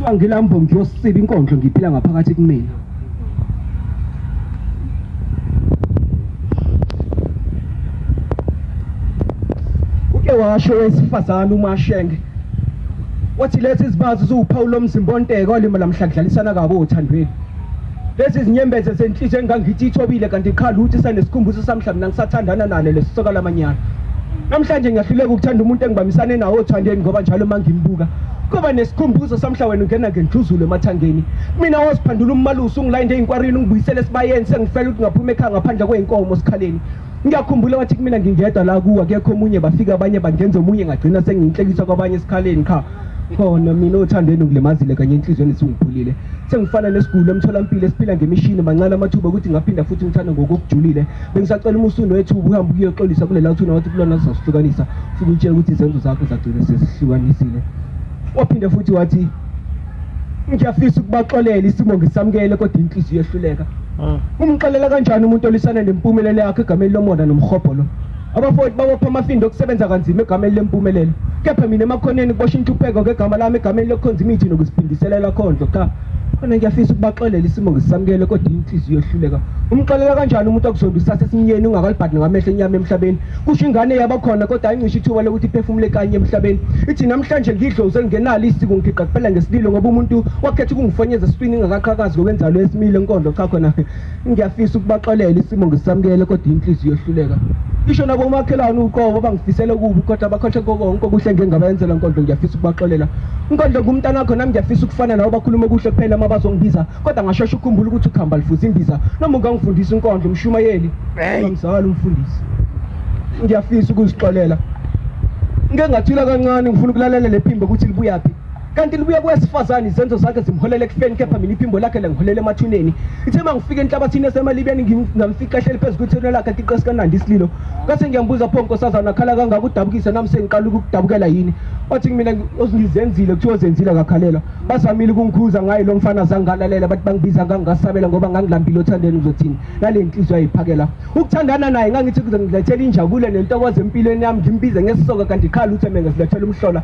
kuthiwa ngilambo ngiyosiba inkondlo ngiphila ngaphakathi kumina uke washo wesifazane umashenge wathi lezi zibazi ziwuphawu lomzimba onteke olima lamhla kudlalisana kabi othandweni Lezi zinyembeze zenhliziyo engangithi ithobile kanti qha luthi sanesikhumbuzo samhla mina ngisathandana nalo lesisoka lamanyala. Namhlanje ngiyahluleka ukuthanda umuntu engibamisane nawo othandeni ngoba njalo mangimbuka kuba nesikhumbuzo samhla wena ungena ngendluzulo emathangeni mina woziphandula ummalusi ungilayinde eyinkwarini ungibuyisele esibayeni sengifela ukuthi ngaphuma ekhaya ngaphandle kweyinkomo sikhaleni ngiyakhumbula wathi kumina ngingedwa la kuwa kekho omunye bafika abanye bangenza omunye ngagcina sengiyinhlekisa kwabanye esikhaleni qha khona mina othandweni ngilimazile kanye enhlizweni singiphulile sengifana nesiguli emtholampilo esiphila ngemishini mancane amathuba ukuthi ngaphinda futhi ngithanda ngokokujulile bengisacela umusundo wethu uhambe kuyoxolisa kulela uthuna wathi kulona sizasihlukanisa futhi utshela ukuthi izenzo zakho zagcina sezihlukanisile waphinde futhi wathi ngiyafisa ukubaxolela isimo ngisamukele kodwa inhliziyo yehluleka ah. umxolela kanjani umuntu olisana nempumelelo yakhe egameni lomona nomhobholo Abafowethu babopha amafindo okusebenza kanzima egameni lempumelelo. Kepha mina emakhoneni kubosha intupheko ngegama lami egameni lokukhonza imithi nokuziphindiselela khondlo. Cha, khona ngiyafisa ukubaxolela isimo ngisisamukele kodwa inhliziyo ihluleka. Umxolela kanjani umuntu okuzonda usase esinyeni ungakalibhadi ngamehlo enyama emhlabeni? Kusho ingane yaba khona kodwa ayincisha ithuba lokuthi iphefumule kanye emhlabeni. Ithi namhlanje ngidloze ngingenalo isiko ngigigqa kuphela ngesililo ngoba umuntu wakhetha ukungifonyeza esitwini ngingakaqhakazi ngokwenzalo esimile enkondlo cha khona Ngiyafisa ukubaxolela isimo ngisamukele kodwa inhliziyo yohluleka. Isho nabo umakhelwane uqobo bangifisele kubi kodwa bakhohle konke okuhle ngengabayenzela Nkonzo ngiyafisa ukubaxolela. Nkonzo ngumntana wakho nami ngiyafisa ukufana nawe bakhuluma kuhle kuphela uma bazongibiza kodwa ngashesha ukukhumbula ukuthi ukhamba lifuza imbiza noma ungangifundisi Nkonzo umshumayeli. Ngizala umfundisi. Ngiyafisa ukuzixolela. Ngeke ngathula kancane ngifuna ukulalela lephimbo ukuthi libuyaphi. kanti libuye kowesifazane izenzo zakhe zimholela ekufeni kepha mina iphimbo lakhe langiholela emathuneni ithe uma ngifika enhlabathini yasemalibeni ngingamfica ehleli phezu kwethuna lakhe athi iqesi kanandi isililo kase ngiyambuza pho nkosazana akhala kangaka udabukisa nami sengiqala ukudabukela yini wathi kumina ngizenzile kuthiwa zenzile akakhalelwa bazamile ukungikhuza ngaye lo mfana zange ngalalela bathi bangibiza ngangingasabela ngoba ngangilambile othandeni uzothini nale nhliziyo ayiphakela ukuthandana naye ngangithi kuze ngilethele injabulo nentokozo empilweni yami ngimbize ngesisoka kanti qha lutho mina ngizilethela umhlola